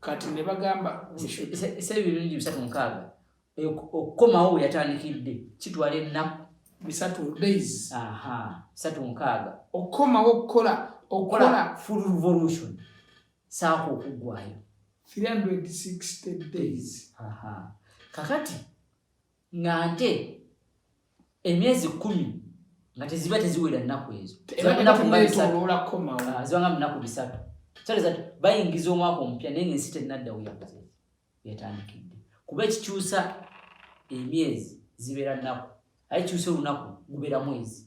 kati ne bagamba ese ebirungi bisatu mukaaga okukomawo weyatandikidde kitwala ennaku bisatu days aha bisatu mukaaga okukomawo okukola okukola full revolution saako okuggwayo 360 days aha kakati nga nte emyezi kumi nga teziba teziwera nnaku ezo zibanga munaku bisatu ah, bayingiza omwaka omupya naye nga ensi tennadda weyakoze yatandikidde kuba ekikyusa emyezi zibeera nnaku aye kyusa olunaku gubeera mwezi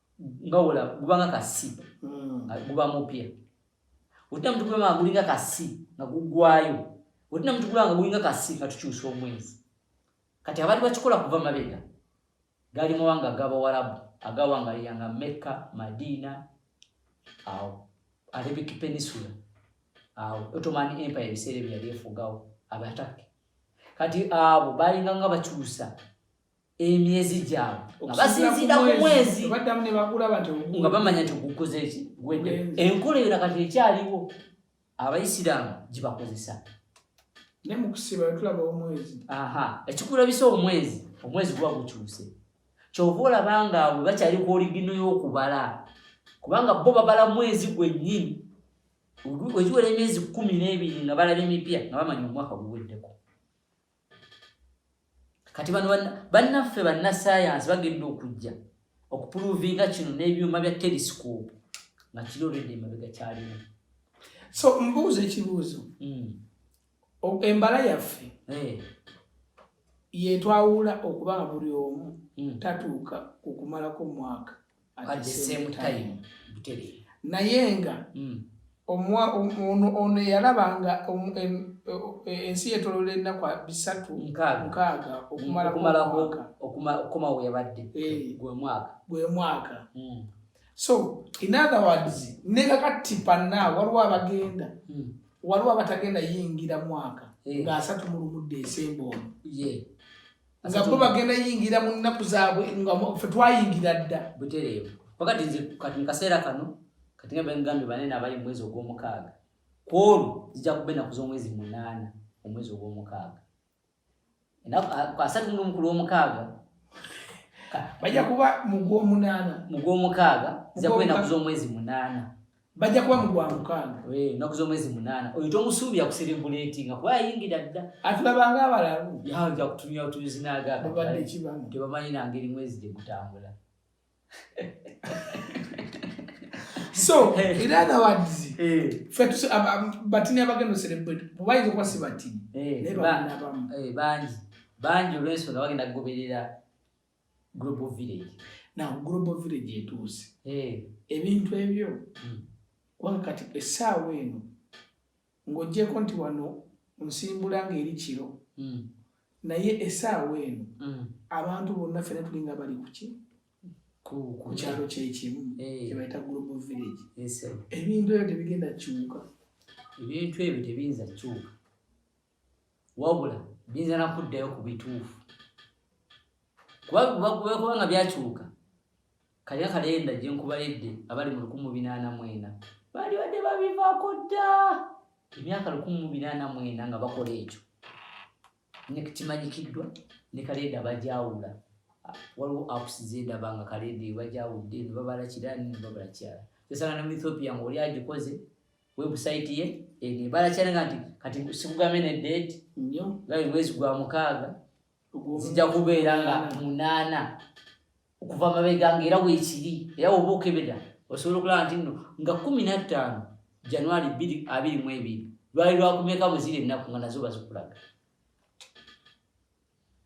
nga wola guba nga kasi hmm. nga guba mupya otina mutukula nga gulinga kasi nga gugwayo otina mutukula nga gulinga kasi nga tukyusa omwezi kati abali bakikola kuva mabega gali mawanga agabawarabu agawangalira nga mekka madina awo arabic peninsula awo ottoman empire ebiseera ebyali efugawo abatake kati abo balinga nga bakyusa emyezi gyabwe nga basinziira ku mwezi nga bamanya nti gukoze eki gwedde enkola eyo nakati ekyaliwo abaisiraamu gibakozesa ekikulabisa omwezi omwezi guba gukyuse kyova olaba nga we bakyali ku oligino y'okubala kubanga bo babala mwezi gwennyini wegiwera emyezi kumi n'ebiri nga balaba emipya nga bamanya omwaka guweddeko kati bano bannaffe bannasayansi bagenda okujja okupuluvinga kino n'ebyuma bya telesikopu nga kiri olwedde emabega kyalimu so mbuuza ekibuuzo hmm. embala yaffe eh. yetwawula okuba nga buli omu hmm. tatuuka ku kumalako mwaka at the same time butere naye nga mm. omwa ono ono yalaba nga ensi yetolola ennaku bisatu nkaaga okumala okumala okuma okuma we yabadde eh. gwe mwaka gwe mwaka mm. so in other words ne kakati panna waliwo abagenda mm. waliwo abatagenda yingira mwaka eh. nga asatu mulumudde esembo ono yeah. nga bo bagenda yingira mu nnaku zaabwe nga fe twayingira dda butereevu pakati nze kati mu kaseera kano kati nga bengambye banene abali mu mwezi ogw'omukaaga ku olwo zijja kuba ennaku z'omwezi munaana omwezi ogw'omukaaga asatu nomu ku lw'omukaaga bajja kuba mu gw'omunaana mu gw'omukaaga zijja kuba ennaku z'omwezi munaana bajja kuba mu gwamukaaga ennaku z'omwezi munaana oyo tomusuubira kuserebuleti nga kuba yayingira dda atulabanga abalalu yaja kutumya otuzinagatebamanyi nangeri mwezi gye gutambula so in other words batini abagenda oserebuleti bubayinza okuba si batini naye baana abamu bangi bangi olwensonga bagenda kugoberera global village now global village etuuse eh. ebintu ebyo hmm. kubanga kati essaawa eno ng'ogyeko nti wano nsimbula ng'eri kiro hmm. naye essaawa eno hmm. abantu bonna fena tulinga bali kuki ku kyalo kyekimu eh. kyebayita global village ebintu ebyo tebigenda kiwuka ebintu ebyo tebiyinza kiwuka wabula biyinza nakuddayo ku bituufu kubakuba nga byakyuka kalina kalenda gye nkubaledde abali mu lukumu binaana mwena baali badde babivaako dda emyaka lukumu binaana mwena nga bakola ekyo nekimanyikiddwa ne kalenda bajawula waliwo apps zendaba nga kalenda ebajawudde nebabala kirani nebabala kirala kyesanga ne mu ethiopia nga oli agikoze website ye ene bala chana ngati kati sikugame ne date nyo ngai mwezi gwa mukaga zija kubera nga munana okuva mabega ngera wekiri era obuke beda osobola kula nti no nga 15 january 2 abiri mwebiri lwali lwakumeka muzire naku nga nazo bazikulaga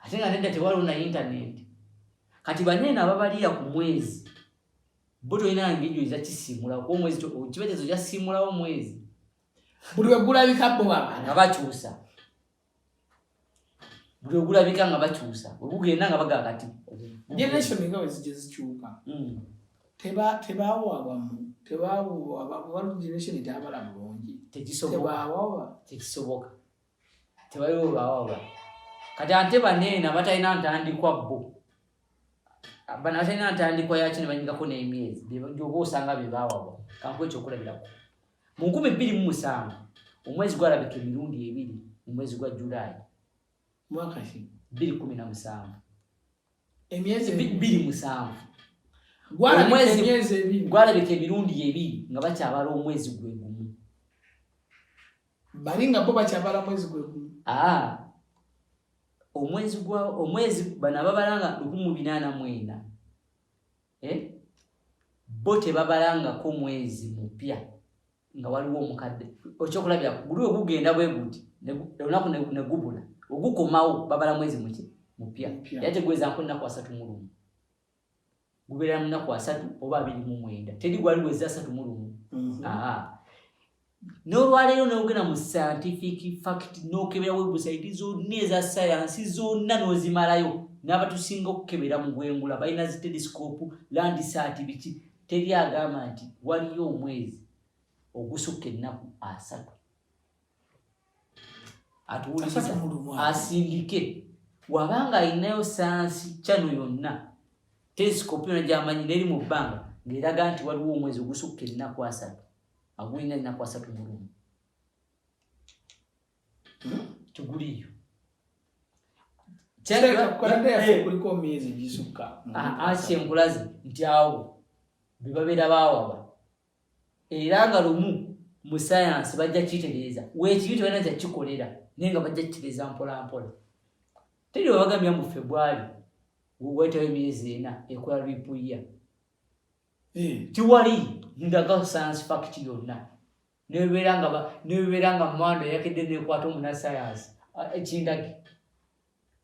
ate nga nedda tewaliwo na intaneti kati baneeno ababaliya ku mwezi bo tolina ngejo ezakisimula kuba omwezi kibetezo kyasimulawo omwezi buli wegulabika bo baba nga bakyusa buli ogulabika nga bakyusa ogugenda nga bagaa kati generation nga wezija zikyuka mm. tebawawamu tebawawa generation etabala bulungi tekisoboka tewaliwo bawaba kati ante baneena batalina ntandikwa bo bano batalina ntandikwa yaki nebanyigako n'emyezi oba osanga bebawaba kankuwa ekyokulabirako mu nkumi bbiri mu musanvu omwezi gwalabika emirundi ebiri mu mwezi gwa julayi mwakaki bbiri kumi na musanvu emyezi bbiri musanvu gwalabika emirundi ebiri nga bakyabala omwezi gwe bali nga bo bakyabala mwezi gwegumu ah. omwezi gwa omwezi bano ababala nga lukumu binaana mwenda eh? bo tebabala ngako mwezi mupya nga waliwo omukadde okyokulabira guli ogugenda bwe guti olunaku negubula ogukomawo babala mwezi muki mupya era tegweza nko nnaku asatu mulumu gubeera mu nnaku asatu oba abiri mu mwenda teri gwali weza asatu mu lumu mhm. n'olwaleero n'ogenda mu scientific fact n'okebera webusaiti zonna eza sayansi zonna n'ozimalayo n'abatusinga okukebera mu bwengula balina zi telescope landisaati biki teri agamba nti waliyo omwezi ogusukka ennaku asatu atuwuliriza asindike waba nga alinayo sayansi kyano yonna telesikopu yona gyamanyi neri mu bbanga ngaeraga nti waliwo omwezi ogusukka ennaku asatu agulina ennaku asatu mulumu hmm? tuguliyo kyenkulaze nti awo bebabeera bawaba era nga lumu mu sayansi bajja kukitereeza weekibi tebalina kyakikolera naye nga bajja kukitereeza mpolampola teri webagambya mu febwali wetawo emyezi ena ekola lwipuyya eh. tiwali ndaga sayansi fakiti yonna nebebeera nga mwando yakedde nekwata omunasayansi ekindagi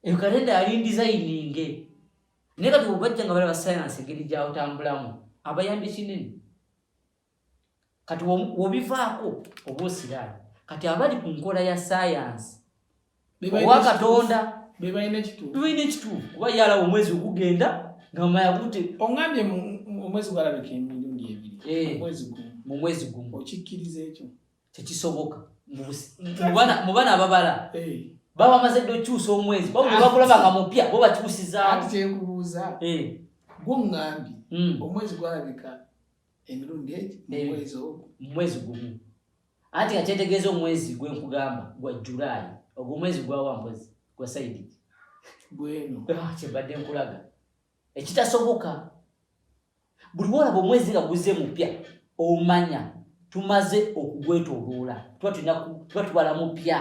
eyo kalenda yali ndizayininge naye kati obajja nga balaba sayansi engeri gyawutambulamu abayambye kinene kati wobivaako oba osiraani kati abali ku nkola ya sayansi owa katonda bebalina ekituufu kuba yalawo omwezi ogugenda nga mayagute ongambye omwezi gwalabika emirundi ebiri eh, mu mwezi gumu okikkiriza ekyo tekisoboka mu bana ababala eh. baba bamaze dde okyusa omwezi bakulaba nga mupya bo bakyusizaawo kyenkubuuza eh. gwo ŋŋambi hmm. omwezi gwalabika emirundi egi eh. mumwezi ogwo mumwezi gumu anti nga kyetegeeza omwezi gwe nkugamba gwa julaayi ogwo omwezi gwawa mpozi gwa saidi gweno ah, kyebadde nkulaga ekitasoboka buli wolaba omwezi nga guze mupya omanya tumaze okugwetoloola tuba tulina tuba tubala mupya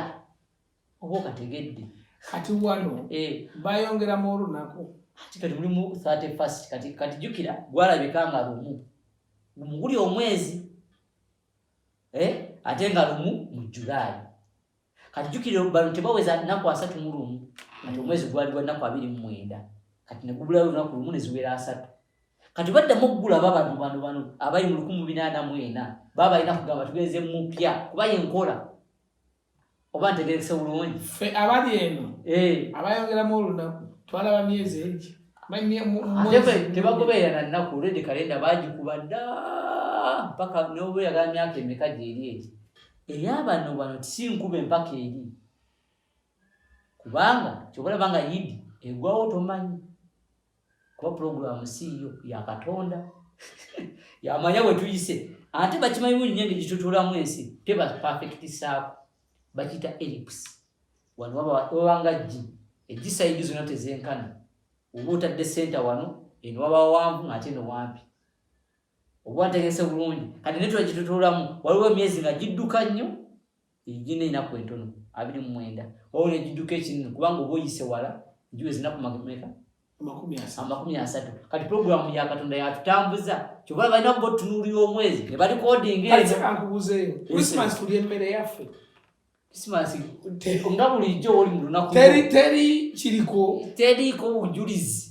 oba okategedde kati wano eh. bayongeramu olunaku kati kati mulimu 31st kati kati jukira gwalabika nga lumu muguli omwezi eh? ate nga lumu mu julayi kati jukira bano tebaweza nnaku asatu mu lumu kati omwezi gwali gwa nnaku abiri mu mwenda kati ne gubulayo olunaku lumu ne ziwera asatu kati baddamu okugula babano bano bano abali mu lukumu binaana mu ena baba balina kugamba tugenze mupya kuba yenkola oba ntegerekese bulungi fe abali eno eh. abayongeramu olunaku twalaba myezi egi tebagobeera na nnaku olwedi kalenda bagikuba dda mpaka nobeera ga myaka emeka gyeri egi eyabano bano tisinkube mpaka eri kubanga kyobalaba nga yidi egwawo tomanyi kuba pulogulamu siiyo yakatonda yamanya wetuyise ate bakimanyi bunyi nyo engeri gitutulamu ensi teba perfect saako bakiyita elips wano wabanga gi egisaidi zona tezenkana oba otadde senta wano eno waba wawanvu ngaate nowampi oba ntegese bulungi kati netula gitutuulamu waliwo emyezi nga gidduka nnyo egina enaku entono abiri mumwenda waliwo negidduka ekinene kubanga oba oyise wala egiwe zinaku meka amakumi asatu kati puroguramu ya katonda yatutambuza kyoba balina kuba otunuulira omwezi ne balikodingaeyoemmere yaffe kisimansi nga bulijjo oli mu lunaku teri teri kiriko teriiko bujulizi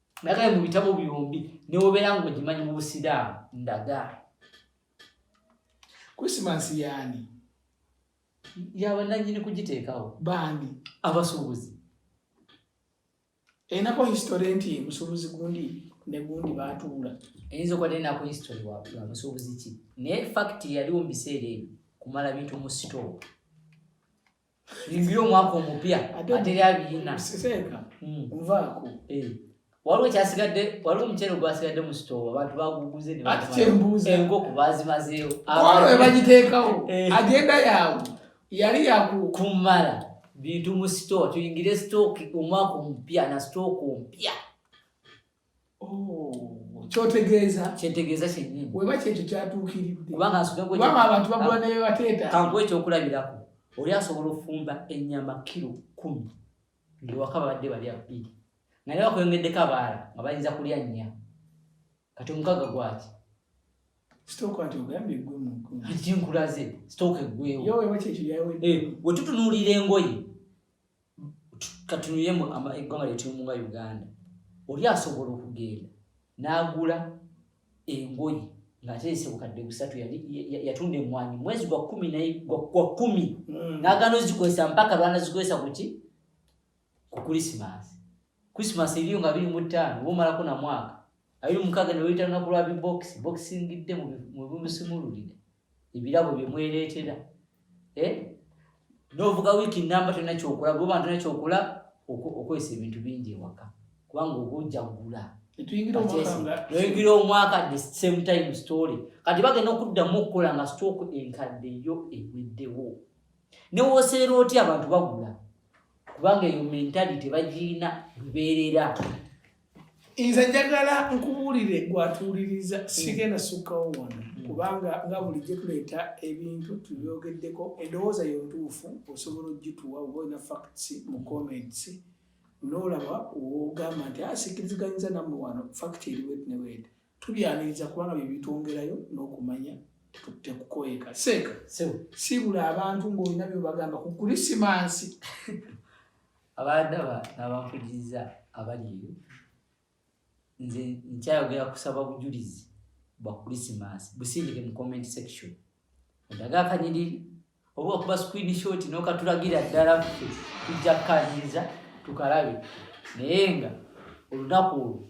nagale mu bitabo byombi newobeera nga ogimanyi mu busiraamu ndaga krisimansi yaani yabananyini kugiteekawo baani abasuubuzi enako history nti musuubuzi gundi negundi batuula eyinza okuba nenako history wa musuubuzi ki naye fakiti yaliwo mu biseera ebyo kumala bintu mu sitoowa Ingira omwaka omupya ateri abiyina siseka hmm. nvaako eh. waliwo kyasigadde waliwo omuceere gwasigadde mu sitoowa abantu baguguze enkoko bazimazeewo walo webagiteekawo eh. agenda yaawe yali yakukumala bintu mu sitoowa tuyingire sitooki omwaka omupya na sitooka omupya kyotegeeza kyetegeeza kyennyini weba kyekyo kyatuukiridde kubanga abantu bagula nebebateeta kankuwa ekyokulabirako oli asobola okufumba ennyama kiro kumi ngewaka babadde bali abiri nga ne bakweyongeddeko abaala nga bayinza kulya nnya kati omukaga gwaki kinkulaze sitooka eggwewo eh, wetutunuulira engoye katunuye mu eggwanga lyetulimu nga uganda oli asobola okugenda n'agula engoyi ng'aterese bukadde busatu yatunda emwanyi mwezi gwa kumi naye gwa kumi mm. n'agaana ozikozesa mpaka lwana zikozesa kuki ku krisimas krisimas eriyo nga biri mu ttaano oba omalako na mwaka abiri mukaaga ne weyita lunaku lwa bibokisi bokisingidde mwebumusumululire ebirabo bye mwereetera eh? n'ovuga wiiki namba tolina kyokola goba ntolina kyokola okozesa ebintu bingi ewaka kubanga oba ojagula noyingira omwaka the same time story kati bagenda okuddamu okukola nga stock enkadde yo eweddewo newoseera otya abantu bagula kubanga eyo mentality bagiina lubeerera nze njagala nkubuulire gwatuwuliriza mm. sigenda sukkawo wano mm. kubanga nga bulijjo tuleeta ebintu tubyogeddeko endowooza yo ntuufu osobola ogituwa oba olina facts mu comments nolaba wogamba nti asikiriziganyiza ah, nammwe wano fact eri wetnewede tubyaniriza kubanga byebitwongerayo n'okumanya tekukoyeka seeka sibula abantu ng'olina byobagamba ku kulisimansi abaadaba n'abampuliriza abali eyo nze nkyayogera kusaba bujulizi bwa krisimaasi busindike mu comment section odaga akanyiriri oba okuba screen shot n'okatulagira ddala ffe tujja kukaniriza tukalabe naye nga olunaku olwo